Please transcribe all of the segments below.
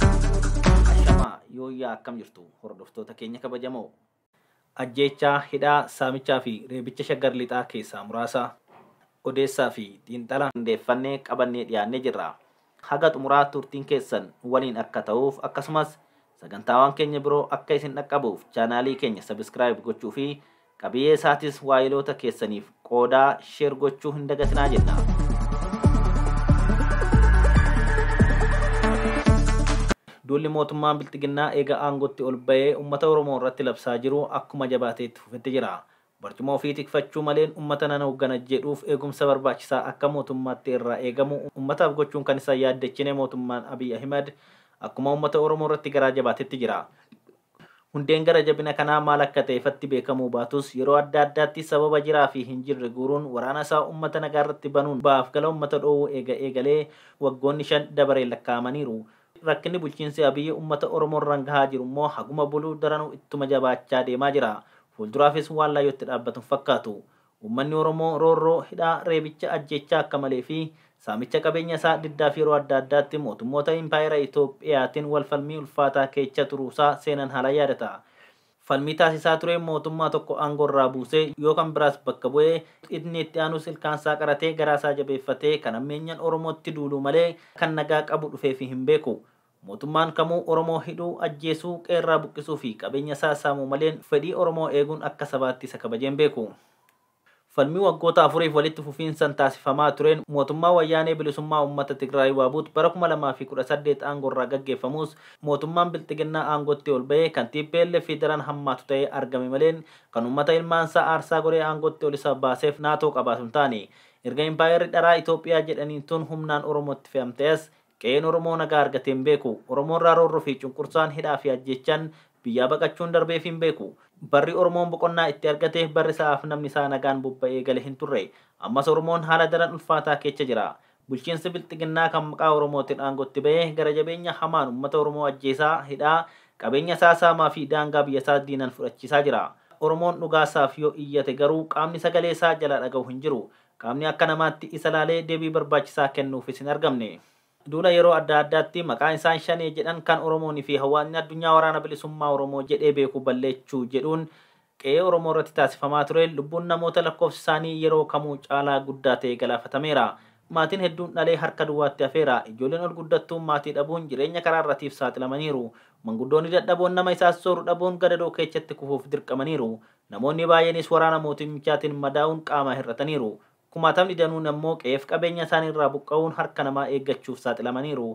Ashamaa yooyyaa akkam jirtu hordoftoota keenya kabajamoo. Ajjeechaa, hidhaa, saamichaa fi reebicha shaggar lixaa keessaa muraasa odeessaa fi xiinxala qindeeffannee qabannee dhiyaannee jirra. Haga xumuraa turtiin keessan nu waliin akka ta'uuf akkasumas sagantaawwan keenya biroo akka isin dhaqqabuuf chaanaalii keenya sabiskiraayib gochuu fi Qabiyee isaatis waayiloota keessaniif qoodaa, share, gochuu hin dagatinaa jenna. Duulli mootummaan Bilxiginnaa eega aangootti ol ba'ee ummata Oromoo irratti labsaa jiru akkuma jabaatee itti fufetti jira. Barcuma ofii tikfachuu maleen ummata nan hooggana jedhuuf eegumsa barbaachisaa akka mootummaatti irraa eegamu ummataaf gochuun kan isa hin yaaddechine mootummaan Abiy Ahimad akkuma ummata Oromoo irratti garaa jabaatetti jira. Hundeen gara jabina kanaa maal akka ta'e ifatti beekamuu baatus, yeroo adda addaatti sababa jiraa fi hin jirre guuruun waraana isaa uummata nagaa irratti banuun ba'aaf gala uummata dhoowwuu eega eegalee waggoonni shan dabareen lakkaa'amaniiru. Rakkinni bulchiinsi Abiy uummata Oromoo irraan gahaa jiru immoo haguma bulu daranuu ittuma jabaachaa deemaa jira. Fuulduraafis waan laayyootti dhaabbatu hin fakkaatu. Uummanni Oromoo roorroo, hidhaa, reebicha, ajjeechaa akka malee fi saamicha qabeenya isaa diddaaf yeroo adda addaatti mootummoota Impaayera Itoophiyaatin wal falmii ulfaataa keecha turuu isaa seenan haalaan yaadata. Falmii taasisaa tureen mootummaa tokko aangoo irraa buusee yoo kan biraas bakka bu'ee inni itti aanus ilkaan isaa qaratee garaa isaa jabeeffatee kan hammeenyan Oromootti duuluu malee kan nagaa qabu dhufeefii hin beeku. Mootummaan kamuu Oromoo hidhuu, ajjeesuu, qe'erraa buqqisuu fi qabeenya isaa saamuu maleen fedhii Oromoo eeguun akka sabaatti isa kabajee hin beeku. Falmii waggoota afuriif walitti fufiinsan taasifamaa tureen mootummaa Wayyaanee Bilisummaa Ummata Tigraay Waabut bara 2018 aangorraa gaggeeffamuus mootummaan Bilxiginnaa aangootti ol bahee kan tplf daran hammaatu ta'ee argame maleen kan ummata ilmaansaa aarsaa godhee aangootti ol isa baaseef naatoo qabaatu hin taane. Erga impaayerri dharaa Itoophiyaa jedhaniin tun humnaan Oromootti fe'amtee as Qe'een Oromoo nagaa argatee hin beeku. Oromoorraa roorro fi cunqursaan, hidhaa fi ajjeechan biyyaa baqachuun darbeefii hin beeku. Barri Oromoon boqonnaa itti argate barri sa'aaf namni isaa nagaan bobba'ee gale hin turre. Ammas Oromoon haala daran ulfaataa keecha jira. Bulchiinsi Bilxiginnaa kan maqaa Oromootin aangotti ba'e gara jabeenya hamaan ummata Oromoo ajjeesaa, hidhaa, qabeenya isaa saamaa fi daangaa biyya isaas diinan fudhachiisaa jira. Oromoon dhugaa isaaf yoo iyyate garuu qaamni sagalee isaa jalaa dhagahu hin jiru. Qaamni akka namaatti isa laalee deebii barbaachisaa kennuufis hin argamne. Duula yeroo adda addaatti maqaa isaan Shanee jedhan kan Oromoon fi hawaasni addunyaa Waraana Bilisummaa Oromoo jedhee beeku balleechuu jedhuun qe'ee Oromoo irratti taasifamaa tureen lubbuun namoota lakkoofsi isaanii yeroo kamuu caalaa guddaa ta'e galaafatameera. Maatiin hedduun dhalee harka duwwaatti hafeera. Ijoolleen ol guddattuun maatii dhabuun jireenya karaa irratiif saaxilamaniiru. Manguddoonni dadhaboon nama isaan sooru dhabuun gadadoo keechatti kufuuf dirqamaniiru. Namoonni baay'eenis waraana mootummichaatiin madaa'uun qaamaa hir'ataniiru. Kumaatamni danuun ammoo qe'eef qabeenya isaanii irraa buqqa'uun harka namaa eeggachuuf saaxilamaniiru.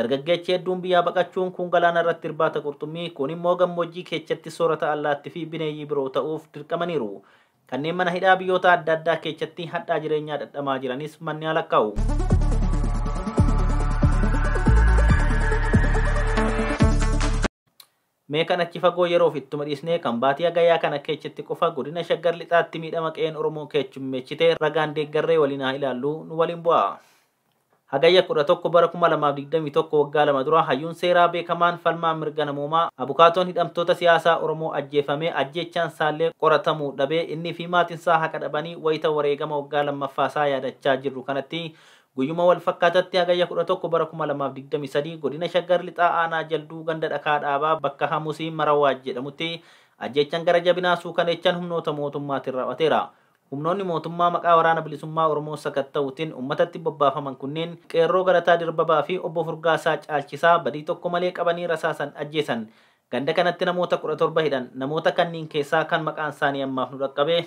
Dargaggeechi hedduun biyyaa baqachuun kuun galaana irratti irbaata qurxummii, kuun immoo gammoojjii keechatti soorata allaatti fi bineeyyii biroo ta'uuf dirqamaniiru. Kanneen mana hidhaa biyyoota adda addaa keechatti hadhaa jireenyaa dhadhamaa jiranis manni haa lakkaa'u. Mee kan achi fagoo yeroof ittuma dhiisnee kan baatii Hagayyaa kana keechatti qofa godina Shaggar Lixaatti miidhama qe'een Oromoo keechummeechite ragaan deeggarree waliin haa ilaallu nu waliin bu'aa. Hagayya 11 bara 2021 waggaa lama dura hayyuun seeraa beekamaan falmaa mirga namoomaa abukaatoon hidhamtoota siyaasaa Oromoo ajjeefame ajjeechaan saallee qoratamuu dhabee inniifi maatinsaa haqa dhabanii wayita wareegama waggaa lammaffaasaa yaadachaa jirru kanatti Guyyuma wal fakkaatatti Hagayya 11 bara 2023 godina Shaggar Lixaa aanaa Jalduu ganda Dhakaa Dhaabaa bakka Hamusii Marawaaj jedhamutti ajjeechan gara jabinaa suukaneechan humnoota mootummaatin raaw'ateera. Humnoonni mootummaa maqaa Waraana Bilisummaa Oromoo sakatta'uutin ummatatti bobbaafaman kunniin Qeerroo Galataa Dirbabaa fi Obbo Furgaasaa Caalchisaa badii tokko malee qabanii rasaasan ajjeesan. Ganda kanatti namoota 17 hidhan. Namoota kanniin keessaa kan maqaan isaanii ammaaf nu dhaqqabe.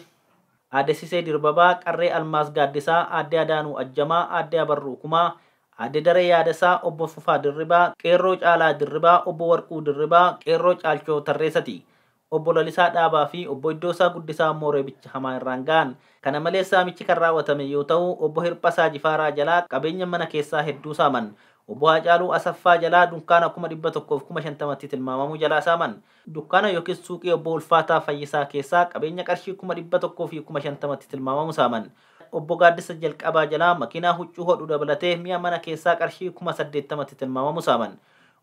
Aadde Sisee Dirbabaa, Qarree Almaaz Gaaddisaa, Aadde Adaanuu Ajjamaa, Aadde Abarruu Kumaa, Aadde Daree Yaadasaa, Obbo Fufaa Dirribaa, Qeerroo Caalaa Dirribaa, Obbo Warquu Dirribaa, Qeerroo Caalchoo Tarreesati. Obbo Lalisaa Dhaabaa fi Obbo Iddoosaa Guddisaa immoo reebicha hamaa irraan ga'an. Kana malees saamichi kan raawwatame yoo ta'u, Obbo Hirphasaa Jifaaraa jalaa qabeenya mana keessaa hedduu saaman. Obbo Haacaaluu Asaffaa jalaa dunkaana kuma 100 fi kuma 50tti tilmaamamu jalaa saaman. Dukkaana ykn suuqii Obbo Ulfaataa Fayyisaa keessaa qabeenya qarshii kuma 100 fi kuma 50tti tilmaamamu saaman. Obbo Gaaddisa Jalqabaa jalaa makiinaa huccuu hodhu dabalatee mi'a mana keessaa qarshii kuma 80tti tilmaamamu saaman.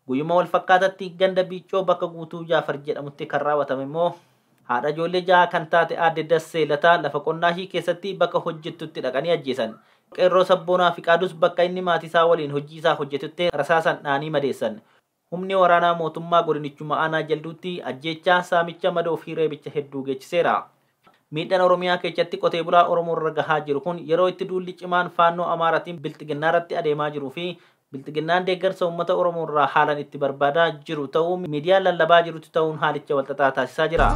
Guyyuma walfakkaatatti ganda Biiccoo bakka Guutuu Jaafar jedhamutti kan raawwatame immoo haadha ijoollee ja'aa kan taate aadde Dassee Lataa lafa qonnaashii keessatti bakka hojjettutti dhaqanii ajjeesan. Qeerroo Sabboonaa Fiqaadus bakka inni maatiisaa waliin hojiisaa hojjetutti rasaasan dha'anii madeessan. Humni waraanaa mootummaa godinichuma aanaa Jalduutti ajjeechaa, saamicha, madoo fi reebicha hedduu geechiseera. Miidhan Oromiyaa keechatti qotee bulaa Oromoo irra gahaa jiru kun yeroo itti duulli cimaan Faannoo Amaaratiin Bilxiginnaa irratti adeemaa jiruu fi Bilxiginnaan deeggarsa uummata Oromoo irraa haalan itti barbaadaa jiru ta'uu miidiyaan lallabaa jirutti ta'uun haalicha walxaxaa taasisaa jira.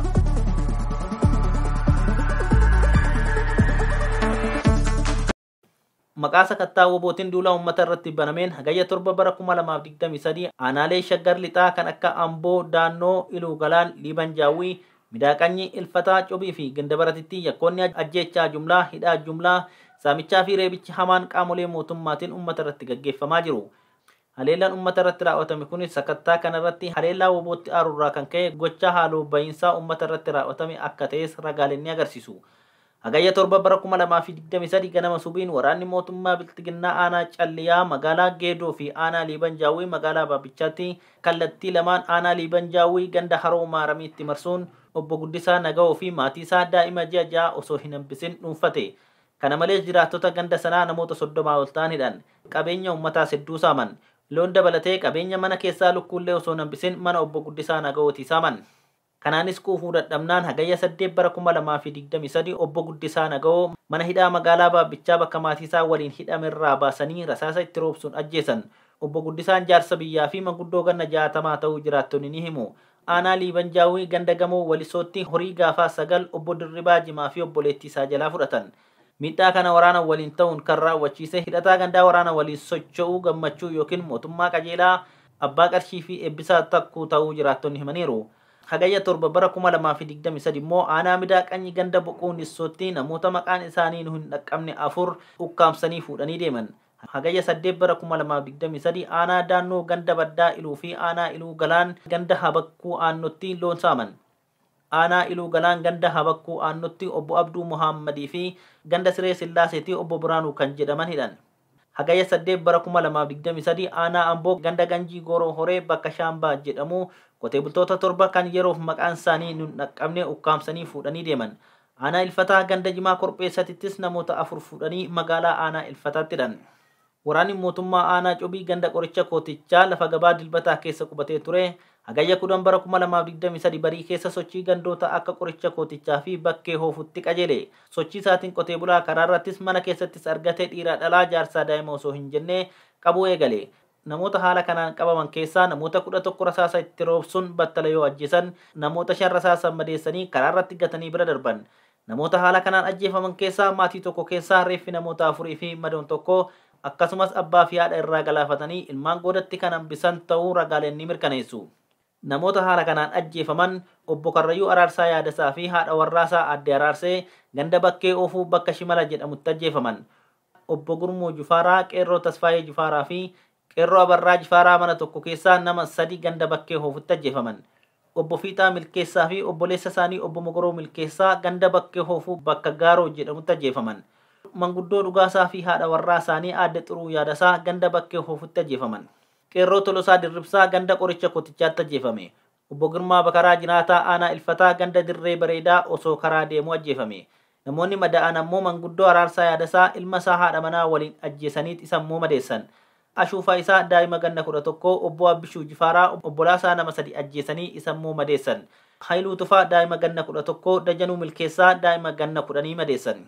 Maqaa sakattaa wbootin duula uummata irratti banameen Hagayya 7 bara 2023 aanaalee Shaggar Lixaa kan akka Amboo, Daannoo, Iluu Galaan, Liiban Jaawwii, Midaa Qanyii, Ilfataa, Cobii fi Gindabaratitti yakkoonni ajjeechaa jumlaa, hidhaa jumlaa, saamichaa fi reebichi hamaan qaamolee mootummaatin uummata irratti gaggeeffamaa jiru. Haleellaan ummata irratti raaw'atame kunis sakattaa kana irratti haleellaa WBOtti aaru irraa kan ka'e gochaa haaloo ba'iinsaa ummata irratti raaw'atame akka ta'es ragaaleen ni agarsiisu. Hagayya 7 bara 2023 ganama subiin waraanni mootummaa Bilxiginnaa aanaa Calliyaa magaalaa Geedoo fi aanaa Liiban Jaawwii magaalaa Baabbichaatti kallattii lamaan aanaa Liiban Jaawwii ganda Haroo Maaramiitti marsuun Obbo Guddisaa Nagawoo fi maatii isaa daa'ima ji'a 6 osoo hin hambisin dhuunfate. Kana malees jiraattota ganda sanaa namoota 30 ol ta'an hidhan, qabeenya uummataas hedduu saaman. Loon dabalatee qabeenya mana keessaa lukkuullee osoo hin hambisin mana Obbo Guddisaa Nagawootii saaman. Kanaanis quufuu dadhabnaan Hagayya 8 bara 2023 Obbo Guddisaa Nagawoo mana hidhaa magaalaa Baabbichaa bakka maatiisaa waliin hidhamerraa baasanii rasaasa itti roobsuun ajjeesan. Obbo Guddisaan jaarsa biyyaa fi manguddoo ganna 60 ta'uu jiraattonni ni himu. Aanaa Liiban Jaawwii ganda Gamoo Walisootti horii gaafaa 9 Obbo Dirribaa Jimaa fi obboleettii isaa jalaa fudhatan. Miidhaa kana waraana waliin ta'uun kan raawwachiise hidhataa gandaa waraana waliin socho'u Gammachuu ykn Mootummaa Qajeelaa, Abbaa Qarshii fi Eebbisaa Takkuu ta'uu jiraattonni himaniiru. Hagayya 7 bara 2023 immoo aanaa Midaa Qanyi ganda Boquu Nissootti namoota maqaan isaanii nu hin dhaqqabne afur ukkaamsanii fuudhanii deeman. Hagayya 8 bara 2023 aanaa Daannoo ganda Baddaa Iluu fi aanaa Iluu Galaan ganda Habakkuu Aannotti loon saaman. Aanaa Iluu Galaan ganda Habakkuu Aannotti obbo Abduu Mohaammadii fi ganda Siree Sillaaseetii obbo Biraanuu kan jedhaman hidhan. Hagayya 8 bara 2023 aanaa Amboo ganda Ganjii Gooroo Horee bakka Shaambaa jedhamu qotee bultoota torba kan yeroof maqaan isaanii nun dhaqqabne ukkaamsanii fuudhanii deeman. Aanaa Ilfataa ganda Jimaa Korpheessatittis namoota 4 fuudhanii magaalaa aanaa Ilfataatti hidhan. Waraanni mootummaa aanaa Cobii ganda Qoricha Kootichaa lafa gabaa Dilbataa keessa qubatee ture Hagayya 10 bara 2023 barii keessa sochii gandoota akka Qoricha Kootichaa fi Bakkee Hoofuutti qajeele. Sochii isaatiin qotee bulaa karaarrattis mana keessattis argate dhiiraa dhalaa jaarsaa daa'ima osoo hin jenne qabuu eegale. Namoota haala kanaan qabaman keessaa namoota 11 rasaasa itti roobsuun battala yoo ajjeesan, namoota 5 rasaasaan madeessanii karaa irratti gatanii bira darban. Namoota haala kanaan ajjeefaman keessaa maatii tokko keessaa reeffi namoota afurii fi madoon tokko akkasumas abbaa fi haadha irraa galaafatanii ilmaan goodatti kan hambisan ta'uu ragaaleen ni mirkaneessu. Namoota haala kanaan ajjeefaman Obbo Karrayyuu Araarsaa Yaadasaa fi haadha warraasaa Aadde Araarsee ganda Bakkee Oofuu bakka Shimala jedhamutti ajjeefaman. Obbo Gurmuu Jufaaraa, Qeerroo Tasfaayee Jufaaraa fi Qeerroo Abarraa Jifaaraa mana tokko keessaa nama sadi ganda Bakkee Hoofutti ajjeefaman. Obbo Fiixaa Milkeessaa fi obboleessa isaanii Obbo Mogoroo Milkeessaa ganda Bakkee Hoofuu bakka Gaaroo jedhamutti ajjeefaman. Manguddoo Dhugaasaa fi haadha warraa isaanii Aadde Xuruu Yaadasaa ganda Bakkee Hoofutti ajjeefaman. Qeerroo Tolosaa Dirribsaa ganda Qoricha Kotichaatti ajjeefame. Obbo Girmaa Bakaraa jiraataa aanaa Ilfataa ganda Dirree Bareedaa osoo karaa deemuu ajjeefame. Namoonni madaa'an ammoo manguddoo Araarsaa Yaadasaa ilma isaa haadha manaa waliin ajjeesaniit isa immoo madeessan. Ashuufaa isaa daa'ima ganna 11 Obbo Abbishuu Jifaaraa obbolaa isaa nama sadi ajjeesanii isa immoo madeessan. Hayiluu Tufaa daa'ima ganna 11 Dajanuu Milkeessaa daa'ima ganna kudhanii madeessan.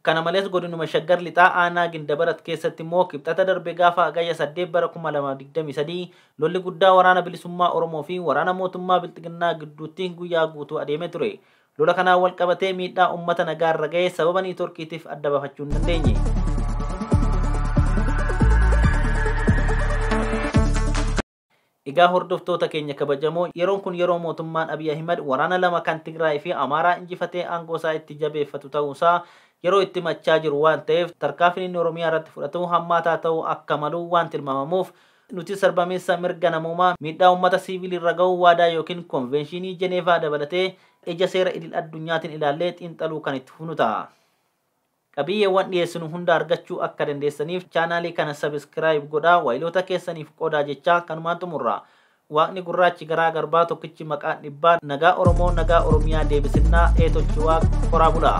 Kana malees Godinuma Shaggar Lixaa Aanaa Gindabarat keessatti immoo Kibxata darbe gaafa Hagayya 8 bara 2023 lolli guddaa Waraana Bilisummaa Oromoo fi Waraana Mootummaa Bilxiginnaa gidduutti guyyaa guutuu adeemee ture. Lola kanaan wal qabatee miidhaa uummata nagaa irra gahe sababa niitworkiitiif adda bafachuu hin dandeenye. Egaa hordoftoota keenya kabajamoo, yeroon kun yeroo mootummaan Abiy Ahimad waraana lama kan Tigraay fi Amaaraa injifatee aangoo isaa itti jabeeffatu ta'uu isaa yeroo itti himachaa jiru waan ta'eef tarkaanfiin inni Oromiyaa irratti fudhatu hammaataa ta'uu akka malu waan tilmaamamuuf nutis sarbamiinsa mirga namoomaa, miidhaa uummata siiviilii irra gahu waadaa ykn konveenshiinii Jeneevaa dabalatee ija seera idil addunyaatiin ilaallee xiinxaluu kan itti fufnu ta'a. Qabiyyeewwan dhiyeessinu hunda argachuu akka dandeessaniif chaanaalii kana subscribe godhaa waayiloota keessaniif qoodaa jechaa kanumaan xumurra. Waaqni gurraachi garaa garbaa tokkichi maqaan dhibbaa nagaa Oromoo nagaa Oromiyaa deebisinnaa ee tochi waaq horaa bulaa.